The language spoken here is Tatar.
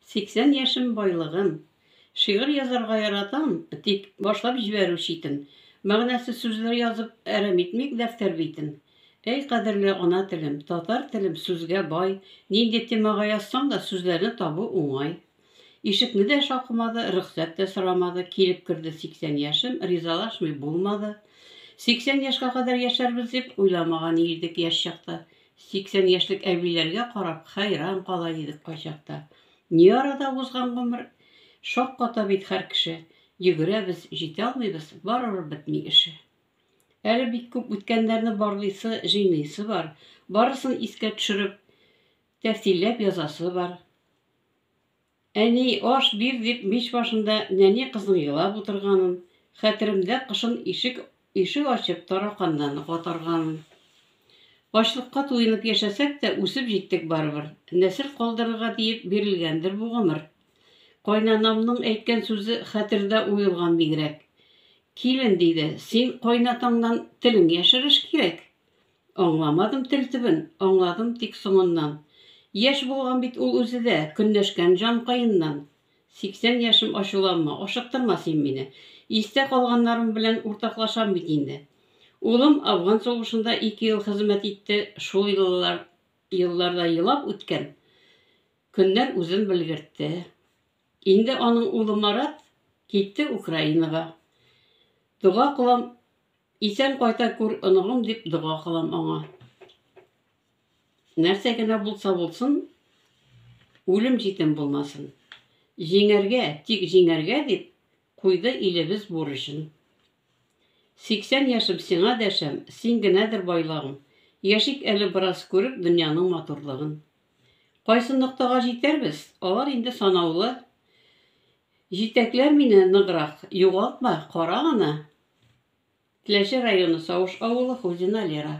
80 яшем байлыгым. Шигырь язарга яратам, тик башлап җибәрү читен. Мәгънәсе сүзләр язып, әрәм итмик дәфтәр битен. Әй кадерле ана телем, татар телем сүзгә бай, нинди темага язсаң да сүзләрне табу уңай. Ишекне дә шакымады, рөхсәт тә сорамады, килеп керде 80 яшем, ризалашмый булмады. 80 яшькә кадәр яшәрбез дип уйламаган идек яшь чакта. 80 яшьлек әбиләргә карап хәйран кала идек кайчакта. Ни арада узган гомер? Шакката бит хәр кеше. Йөгерәбез, җитә алмыйбыз, барыбер бетми эше. Әле бик күп үткәннәрне барлыйсы, җыйныйсы бар. Барысын искә төшереп, тәфсилләп язасы бар. Әни, аш бир, дип мич башында нәни кызның елап утырганын, хәтеремдә кышын ишек ишек ачып тараканнарны катарганын. Ачлыкка туенып яшәсәк тә, үсеп җиттек барыбер. Нәсел калдырырга диеп бирелгәндер бу гомер. Кайнанамның әйткән сүзе хәтердә уелган бигрәк. Килен, диде, син кайнатаңнан телең яшереш кирәк. Аңламадым тел төбен, аңладым тик соңыннан. Яшь булган бит ул үзе дә, көнләшкән җанкаеннан. Сиксән яшем, ачуланма, ашыктырма син мине. Истә калганнарым белән уртаклашам бит инде. Улым Афган сугышында ике ел хезмәт итте, шул елларда елап үткән көннәр үзен белгертте. Инде аның улы Марат китте Украинага. Дога кылам, исән кайта күр, оныгым, дип дога кылам аңа. Нәрсә генә булса булсын, үлем җитем булмасын. Җиңәргә, тик җиңәргә дип, куйды илебез бурычын. Сиксән яшем сиңа дәшәм, син генәдер байлагым. Яшик әле бераз күреп дөньяның матурлыгын. Кайсы ноктага җитәрбез, алар инде санаулы. Җитәкләр мине ныграк, югалтма, кара гына. Теләче районы Савыш авылы Хузина Лера.